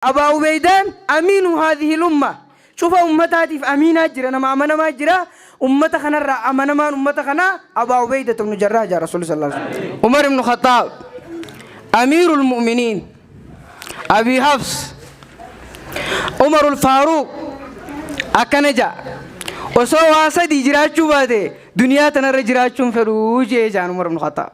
Abaa Ubeydaan Amiinu haadhihil ummah, cufa ummataatiif Amiinaa jira, nama amanamaa jira, ummata kanarraa amanamaan ummata kanaa Abaa Ubeydatu bnu Jarraah jedhan Rasuulli sallallaahu aleyhi wa sallam. Umar ibnu Khaxxaab Amiirul Mu'miniin, Abii Hafs, Umarul Faaruuq akkana jedha, Osoo waa sadii jiraachuu baate duniyaa tanarra jiraachuu hin fedhu jedhe jedhan Umar ibnu Khaxxaab.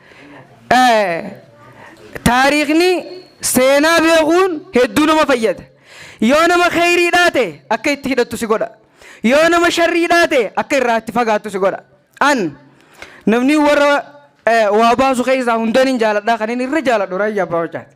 Taariikni seenaa beekuun hedduu nama fayyada. Yoo nama kheyrii dhaate akka itti hidhattu si godha. Yoo nama sharrii dhaate akka irraa itti fagaattu si godha. An namni warra waa baasu keessaa hundaniin jaaladhaa kanin irra jaaladhu raayyaa abbaa wacaati.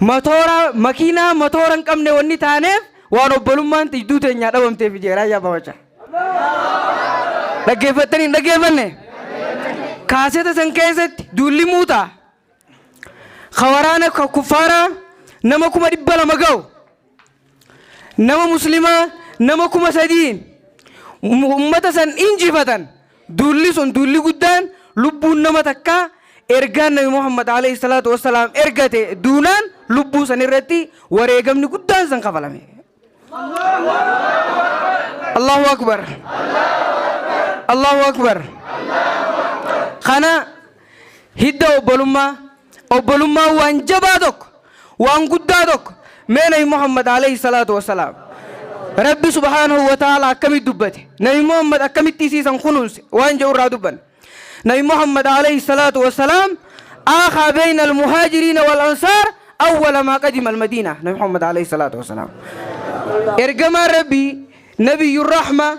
Matoora makiinaa matoora hin qabne wanni taaneef waan obbolummaan tijduu teenyaa dhabamteef ijee raayyaa babacha. Dhaggeeffattanii hin dhaggeeffanne? Kaaseta san keessatti duulli muutaa ka waraana ka kuffaaraa nama kuma dhibba lama ga'u nama muslimaa nama kuma sadiin ummata san injifatan duulli sun duulli guddaan lubbuun nama takkaa ergaan nabi muhammad alayhi salaatu wassalaam ergate duunaan lubbuu san irratti wareegamni guddaan san kafalame allahu akbar allahu akbar kana Hidda obbolummaa, obbolummaan waan jabaa tokko, waan guddaa tokko. Mee Nabi Muhammad Aleeyhi Salaatu Wassalaam Rabbi Subhaanahu Wa Ta'aalaa akkamitti dubbate? Nabi Muhammad akkamitti isii san kunuunse? Waan jedhu irraa dubbanna. Nabi Muhammad Aleeyhi Salaatu Wassalaam Aakhaa Beeyna Al-Muhaajiriina Wal Ansaar Awwala Maa Qadima Al-Madiina Nabi Muhammad Aleeyhi Salaatu Wassalaam Ergamaan Rabbii Nabiyyur Rahma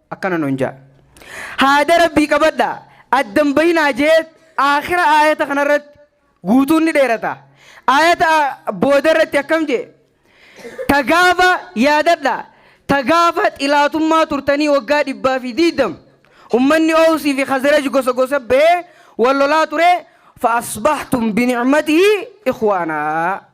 akkana nun ja'a. Haada Rabbii qabadhaa, adda hin bahinaa je'eet aakhira aayata kana irratti guutuun ni dheerata. Aayata booda irratti akkam je'e? Ta gaafa yaadadhaa, ta gaafa xilaatummaa turtanii waggaa dhibbaa fi diiddam ummanni Oowsii fi Khazraj gosa gosa bahee wal lolaa ture fa asbahtum bi ni'matihi ikhwaanaa.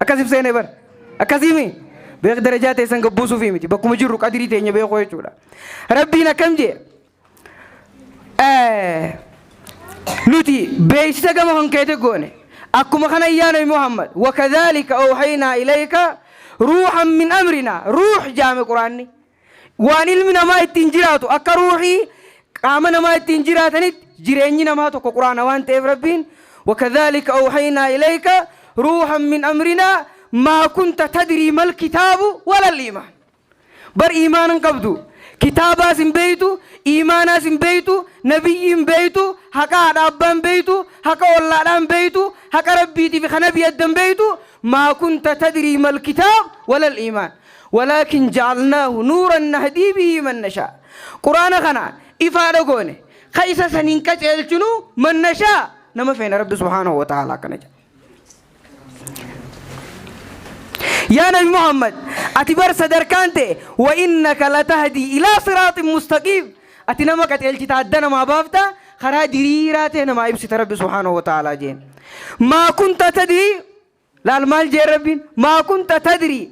Akkasif seene bar. Akkasiimi. Beek darajaa teessan gabbuusuufi miti. Bakkuma jirru qadirii teenya beekuu jechuudha. Rabbiin akkam jee? Nuti beeksisa gama kan keete goone. Akkuma kana yaa Nabi Muhammad. Wakadhaalika oohaynaa ilayka ruuhan min amrinaa. Ruuh jaame quraanni. Waan ilmi namaa ittiin jiraatu akka ruuhii qaama namaa ittiin jiraatanitti jireenyi namaa tokko quraana waan ta'eef Rabbiin wakadhaalika awhaynaa ilayka ruuhan min amrinaa maa kunta tadrii mal kitaabu walal iimaan bar iimaana hin qabdu kitaabaas hin beeytu iimaanaas hin beeytu nabiyyii hin beeytu haqa haadha abbaa hin beeytu haqa ollaadhaa hin beeytu haqa rabbiitiif ka nabii adda hin beeytu maa kunta tadrii mal kitaab walal iimaan Walaakin ja'alnaahu nuuran nahdii bihii man nashaa. Qur'aana kana ifaadha goone, kaysa saniin qaceelchinu man nashaa nama feene Rabbi subhaanahu wa ta'aalaa akkana jedha. Yaa Nabi Muhammad ati bar sadarkaan tee wa innaka latahdii ilaa siraaxin mustaqiim ati nama qaceelchita adda namaa baafta karaa diriiraa tee namaa ibsita Rabbi subhaanahu wa ta'aalaa jeen. Maa kunta tadrii Laal maal jee Rabbiin? Maa kunta tadrii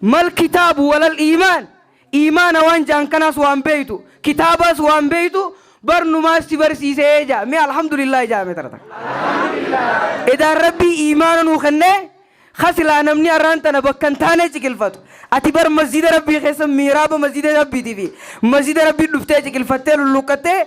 mal kitaabu walal iimaan Iimaana waan ja'an kanaas waan beeytu, kitaabaas waan beeytu, barnumaas si barsiisee ja'a. Mee Alhamdulillaahi ja'a mee tara takka. Edaan Rabbii iimaana nuu kennee ka silaa namni arraan tana bakka hin taanee ciqilfatu. Ati bar masjiida Rabbii keessa mihraaba masjiida Rabbiitii fi masjiida Rabbii dhuftee ciqilfattee lulluuqqattee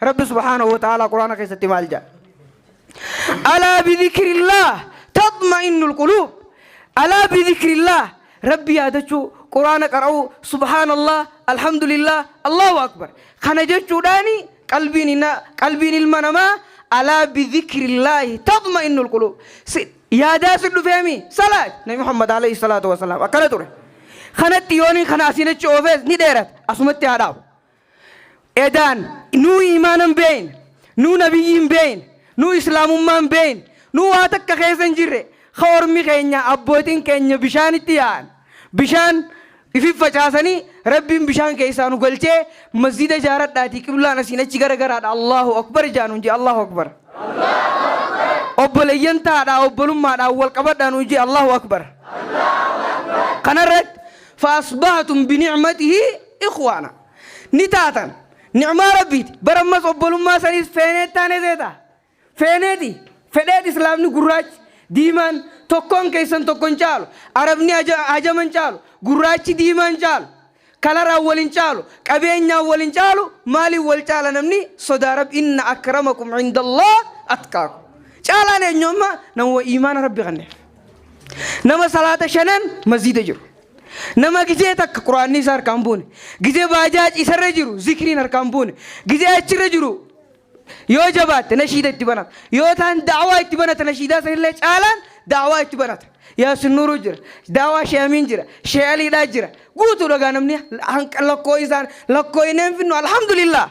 Rabbi subhaanahu wa ta'aalaa Qur'aana keessatti maal jedha? Alaa bidhikrillaah taxma'innul quluub. Alaa bidhikrillaah Rabbi yaadachuu, Qur'aana qara'uu, subhaanallaah, alhamdulillaah, Allaahu akbar. Kana jechuudhaani qalbiin na qalbiin ilma namaa alaa bidhikrillaahi taxma'innul quluub. Si yaadaa si dhufeemi salaat Nabi Muhammad alayhi salaatu wa salaam akkana ture. Kanatti yooniin kana asiin achi oofees ni dheerata asumatti haa dhaabu. edaan nuu iimaana hin beeyne nuu nabiyyii hin beeyne nuu islaamummaa hin beeyne nuu waa takka keessa hin jirre ka ormi keenya abbootin keenya bishaanitti yaa'an bishaan ifin facaasanii rabbiin bishaan keessaa nu galchee masjida jaaradhaatii qiblaan asiin achi gara garaadha allahu akbar jaa nuun jee allahu akbar obboleeyyan taadhaa obbolummaadhaan wal qabadhaa nuun jee allahu akbar kanarratti faasbahatum binicmatihi Ikhwaana. Ni taatan. Ni'maa Rabbiiti. Bar ammas obbolummaa saniis feeneet taanee seeta. Feeneeti. Fedheet Islaamni gurraachi, diimaan, tokkoon keessan tokko hin caalu. Arabni ajama hin caalu. Gurraachi diimaa hin caalu. Kalaraan wal hin caalu. Qabeenyaan wal hin caalu. Maaliin wal caala namni? Sodaa Rabbi. Inna akramakum indallah atqaakum. Caalaan eenyu amma? Namuma iimaana Rabbi kanneef. Nama salaata shanan masjiida jiru. Nama gizee takka quraanni isa harkaan buune, gizee baajaaji isarra jiru zikriin harkaan buune, gizee achirra jiru yoo jabaatte nashiida itti banata, yoo taan da'awaa itti banata nashiidaa sanillee caalaan da'awaa itti banata. Yaasin Nuuruu jira, da'awaa Shee Amiin jira, Shee Aliidhaa jira, guutuudha gaa namni hanqa lakkoo'isaan lakkoo'inee hin finnu alhamdulillaah.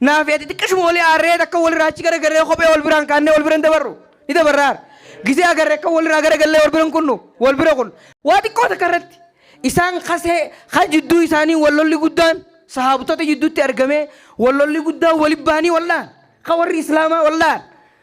Naaf ati xiqqashuma wali aarree takka walirraa achi garagarree kophee wal biraan kaannee wal biran dabarru ni dabarra aara. Gisee agarre akka walirraa garagallee wal biran kunnu wal bira kun. Waa xiqqoo takka irratti isaan kasee kan jidduu isaanii wal lolli guddaan sahaabtota jidduutti argamee wal lolli guddaan wali bahanii wal dhahan kan warri islaamaa wal dhahan.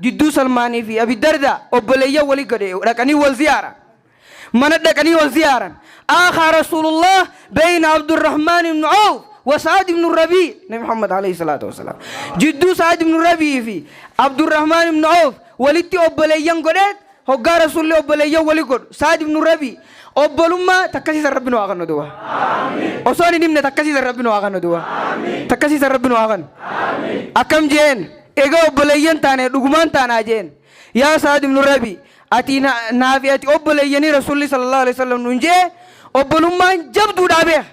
Jidduu Salmaanii fi Abi Dardaa obboleeyyan wali gad dhaqanii wal ziyaaran. Mana dhaqanii wal ziyaaran. Aakhaa Rasuulullaah bayna Abdurrahmaan ibn Awf wa Sa'ad ibn Rabii. Nabi Muhammad alayhi salaatu wa salaam jidduu Sa'ad ibn Rabii fi Abdurrahmaan ibn Awf walitti obboleeyyan godheet Hoggaa Rasuulli obboleeyyan wali godhu, Sa'd ibnu Rabii, Obbolummaa takkasiisan Rabbi nu haa kennu duuba. Osoon hin himne takkasiisan Rabbi nu haa kennu duuba. Takkasiisan Rabbi nu haa kennu. Akkam je'een, Egaa obboleeyyan taanee dhugumaan taanaa je'een. Yaa Sa'd ibnu Rabii, ati na, naa fi ati obboleeyyanii Rasuulli sallallaahu aleyhi wa sallam nuun je'e, obbolummaan jabduudhaa beekh.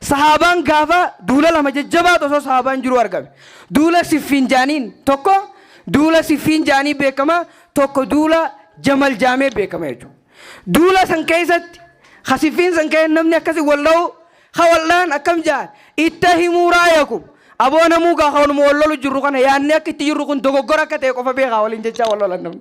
Sahaabaan gaafa duula lama jajjabaatu osoo sahaabaan jiruu argame. Duula Siffiin jaaniin tokko duula Siffiin jaanii beekama tokko duula Jamal jaamee beekama jechuudha. Duula san keessatti ha Siffiin san ka'ee namni akkasi wal dha'u ha wal dha'an akkam ja'an itta himuu raayakum aboo namuu gaa kanuma wal lolu jirru kana yaadni akka itti jirru kun dogoggora akka ta'e qofa beekaa waliin jechaa wal lolan namni.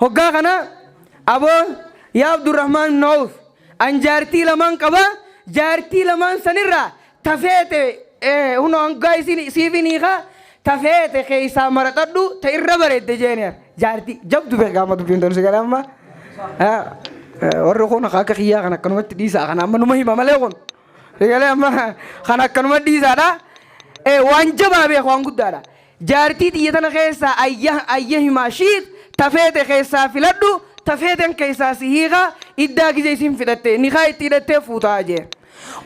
Hoggaa kana aboo yaa Abdurrahmaan ibn Awf an jaartii lamaan qaba jaartii lamaan sanirraa ta feete hunoo hangaa isiin siifi niika ta feete keessaa maraxadhu ta irra bareedde jeeni jaartii jabdu beekaa amma dubbiin tolsi kana amma warri kun akka kiyyaa kan akkanumatti dhiisaa kana amma numa hima malee kun sagalee amma kan akkanuma dhiisaadha waan jabaa beeku waan guddaadha. Jaartii tiyya tana keessaa ayya ayya himaa shiit ta feete keessaa filadhu ta feeten keessaa si hiika iddaa gizee isiin fixatte nikaa itti hidhattee fuuta jee.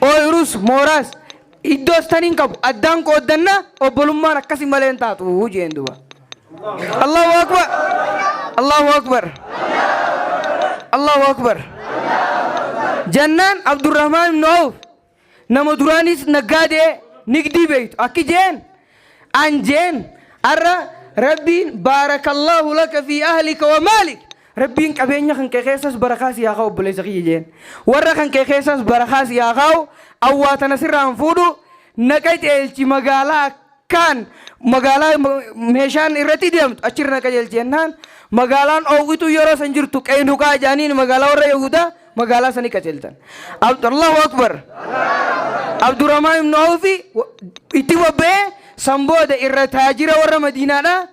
Ooyruus, mooraas, iddoos tan hin qabu addaan qooddanna obbolummaan akkasi malee hin taatu jeen duba. Allahu akbar Allahu akbar Allahu akbar jannaan Abdurrahmaan ibn Awf Nama duraanis naggaadee nigdii beeytu akki jeen an jeen arra rabbiin baarakallaahu laka fi ahlika wa maalik rabbiin qabeenya kan kee keessas barakaa si haa kaa'u obboleessa kiyya jeen warra kan kee keessas barakaa si haa kaa'u awwaa tana sirraan fuudhu na qaceelchi magaalaa kaan magaalaa meeshaan irratti deemtu achirra na qajeelchi jennaan magaalaan oowwituu yeroo san jirtu qeynuqaa jaaniin magaalaa warra yahudaa magaalaa sanii qajeelchan allahu akbar abdurahmaan ibnu awfi itti bobba'ee san booda irra taajira warra madiinaadha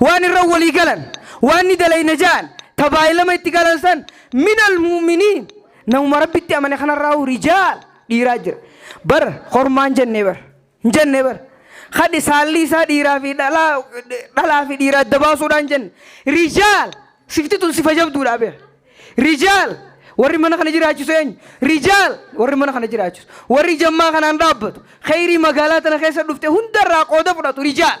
Waan irra walii galan, waan ni dalayna ja'an, ta baay'lama itti galan san, minal mu'miniin, namuma Rabbitti amane kanarraahuu rijaal, dhiiraa jira. Bar kormaa hin jenne bar. Hin jenne bar. Kadhi saalli isaa dhiiraa fi dhalaa, dhalaa fi dhiiraa adda baasuudhaa hin jenne. Rijaal! Sifti tun sifa jabduudhaa beer. Rijaal! Warri mana kana jiraachisu eenyu? Rijaal! Warri mana kana jiraachisu. Warri jammaa kanaan dhaabbatu. Kheyrii magaalaa tana keessa dhufte hundarraa qooda fudhatu. Rijaal!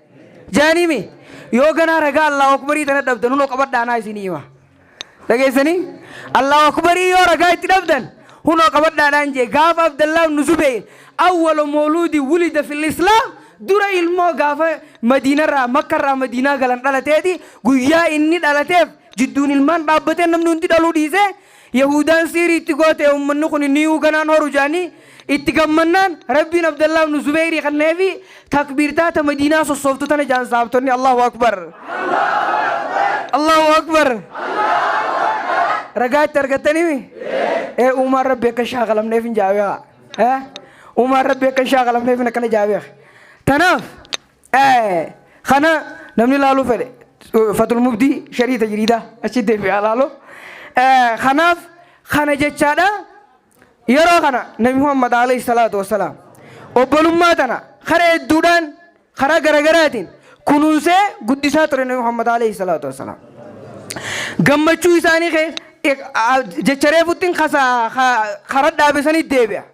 Jaanii mi? Yoo ganaa ragaa Allaahu Akbarii tana dhabdan hunoo qabadhaa anaa isinii hima. Dhageessanii? Allaahu Akbarii yoo ragaa itti dhabdan hunoo qabadhaadhaan jee gaafa Abdallaa ibnu Zubeyr awwala mooluudi wulida fil Islaam dura ilmoo gaafa Madiinarraa Makkarraa Madiinaa galan dhalateeti guyyaa inni dhalateef jidduun ilmaan dhaabbateen namni hundi dhaluu dhiisee Yahuudaan siiri itti goote ummanni kun niyuu ganaan horu jaanii itti gammannaan Rabbiin Abdallaa ibnu Zubeyrii kanneefi takbiirtaa ta Madiinaa sossooftu tana jaan sahaabtonni Allaahu Akbar Allaahu Akbar ragaa itti argattanimi ee uumaan Rabbi akka hin shaakalamneef hin jaabeeha ee uumaan Rabbi akka hin shaakalamneef hin akkana jaabeeha tanaaf Ee, kana namni laaluu fedhe fatul mubdii sharii tajriidaa achi deebi'aa laaloo Ee, kanaaf kana jechaadha yeroo kana nabi muhammad alayhi salaatu wassalaam obbolummaa tana karaa hedduudhaan karaa garagaraatiin kunuunsee guddisaa ture nabi muhammad alayhi salaatu wassalaam gammachuu isaanii kee jecha reefuttiin kasaa karaa dhaabesanii deebi'a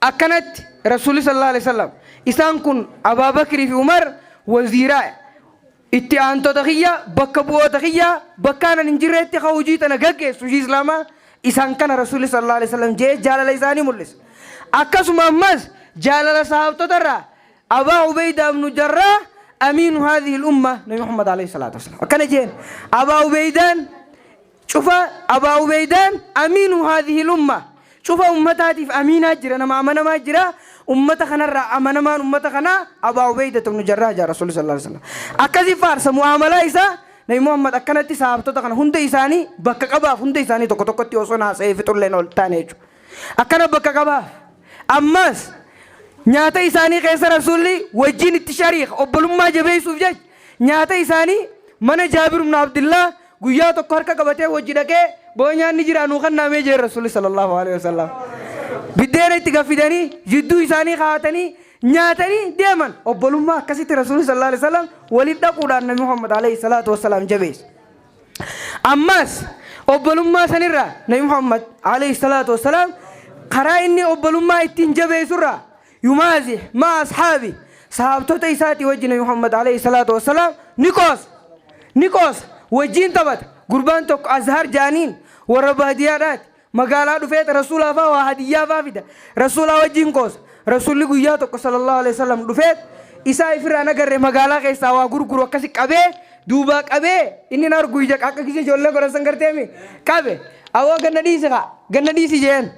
Akkanatti Rasuulli sallallaahu aleyhi wa sallam, Isaan kun Abaa Bakrii fi Umar waziira, itti aantota kiyya, bakka bu'oota kiyya, bakka anan hin jirreetti ka hujii tana gaggeessu, hujii Islaamaa, isaan kana Rasuulli sallallaahu aleyhi wa sallam je'ee jaalala isaanii mul'isa. Akkasuma ammas jaalala sahaabtota irraa Abaa Ubeydaa ibnu Jarraah Amiinu haadhihil ummah, Nabi Muhammad aleyhi salaatu wa salaam akkana je'een, Abaa Ubeydaan, Cufa Abaa Ubeeydaan Amiinu haadhihil ummah, cufa ummataatiif Amiinaa jira, nama amanamaa jira, ummata kanarraa amanamaan ummata kanaa Abaa Ubeeydatu ibnu Jarraah jedhan Rasuulli sallallaahu aleyhi wa sallam. Akkasi faarsa mu'aamalaa isaa Nabi Muhammad akkanatti sahaabtota kana hunda isaanii bakka qabaaf, hunda isaanii tokko tokkotti osoon haasa'ee fixullee na ol taane jechuudha. Akkana bakka qabaaf. Ammaas nyaata isaanii keessa Rasuulli wajjiin itti shariika, obbolummaa jabeessuuf jecha nyaata isaanii mana Jaabir ibnu Abdillaah Guyyaa tokko harka qabatee wajji dhaqee boo nyaanni jiraa nuu kannaa mee jeen Rasuulli sallallaahu aleyhi wasallam. Biddeena itti gad fidanii jidduu isaanii kaa'atanii nyaatanii deeman. Obbolummaa akkasitti Rasuulli sallallaahu aleyhi wasallam walitti dhaquudhaan Nabi Muhammad aleyhi salaatu wassalaam jabeesse. Ammaas obbolummaa sanirraa Nabi Muhammad aleyhi salaatu wassalaam karaa inni obbolummaa ittiin jabeessurraa Yumaazih ma'a ashaabih, sahaabtota isaatii wajji Nabi Muhammad aleyh salaatu wa salaam ni qoosa. Ni qoosa. Wajjiin taphata. Gurbaan tokko Azhar ja'aniin, warra baadiyaadhaati. Magaalaa dhufeet Rasuulaa faa waa hadiyyaa faa fida. Rasuulaa wajjiin qoosa. Rasuulli guyyaa tokko sallallahu aleyh wa sallam dhufeet, isaa ifirraa hin agarre magaalaa keessaa waa gurguru akkasi qabee, duubaa qabee, inni hin argu ija akka kiyya ijoollee godhan san garteemi? Qabe. Awoo ganna dhiisi kaa! Ganna dhiisi je'een.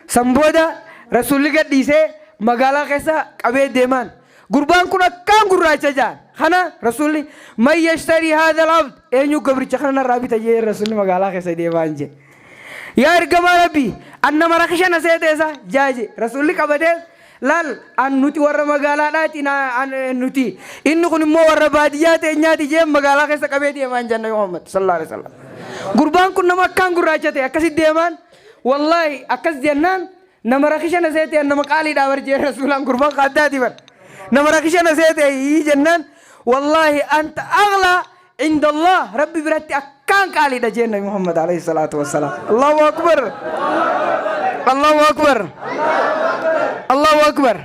San booda Rasuulli gad dhiisee magaalaa keessa qabee deemaan. Gurbaan kun akkaan gurraacha ja'an. Kana Rasuulli man yashtarii haadhal abd eenyu gabricha kana narraa bita jee Rasuulli magaalaa keessa deemaan jee. Yaa ergamaa Rabbii an nama rakisha na seeteessa jaa jee Rasuulli qabatee laal an nuti warra magaalaadhaati na an eh, nuti inni kun immoo warra baadiyyaa teenyaati jee magaalaa keessa qabee deemaan janna Muhammad sallallahu alaihi wasallam. Gurbaan kun nama akkaan gurraacha ta'e akkasitti deemaan Wallahi akkas jennaan nama rakisha na seete an nama qaaliidhaa bar jee rasuulaan gurbaan ka addaati bar nama rakisha na seete hii jennaan wallahi anta aghlaa inda Allah rabbi biratti akkaan qaaliidha jeen nabi Muhammad alayhi salaatu wassalaam Allahu akbar Allahu akbar Allahu akbar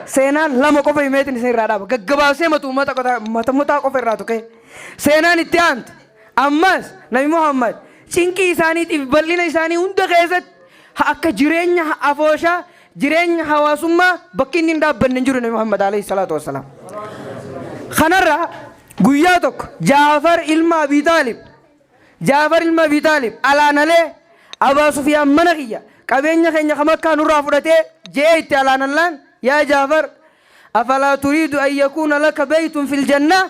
seenaan lama qofa himeetin isin irraa dhaaba gaggabaabsee matu ummata qotaa mata mutaa qofa irraa tuqee seenaan itti aantu Ammas, Nabi Muhammad, cinqii isaaniitiif bal'ina isaanii hunda keessatti, ha akka jireenya ha afooshaa, jireenya hawaasummaa, bakki inni hin dhaabbanne hin jiru Nabi Muhammad, aleyhi salaatu wa salaam. Kanarraa, guyyaa tokko, Ja'far ilma Abii Xaalib, Ja'far ilma Abii Xaalib, alaanalee, Abaa Sufyaan mana kiyya, qabeenya keenya ka Makkaa nurraa fudhatee, je'ee itti alaanallaan, Yaa Ja'far, afalaa turiidu an yakuuna laka beytun fil jannah?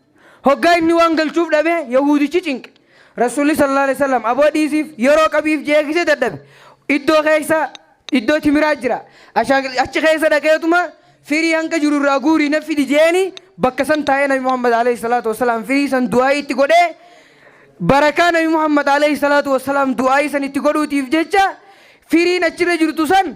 Hoggaa inni waan galchuuf dhabe yahuudichi cinqe. Rasuulli sallallaahu aleeyhi wasallam aboo dhiisiif yeroo qabiif je'ee kise dadhabe. Iddoo keessa iddoo timiraa jira. Ashaakilti achi keessa dhaqeetuma firii hanqa jiru irraa guurii naf fidi je'eeni bakka san taa'ee nabi Muhammad aleeyhi salaatu wassalaam firii san du'aa'ii itti godhee barakaa nabi Muhammad aleeyhi salaatu wassalaam du'aa'ii san itti godhuutiif jecha firiin achirra jirtu san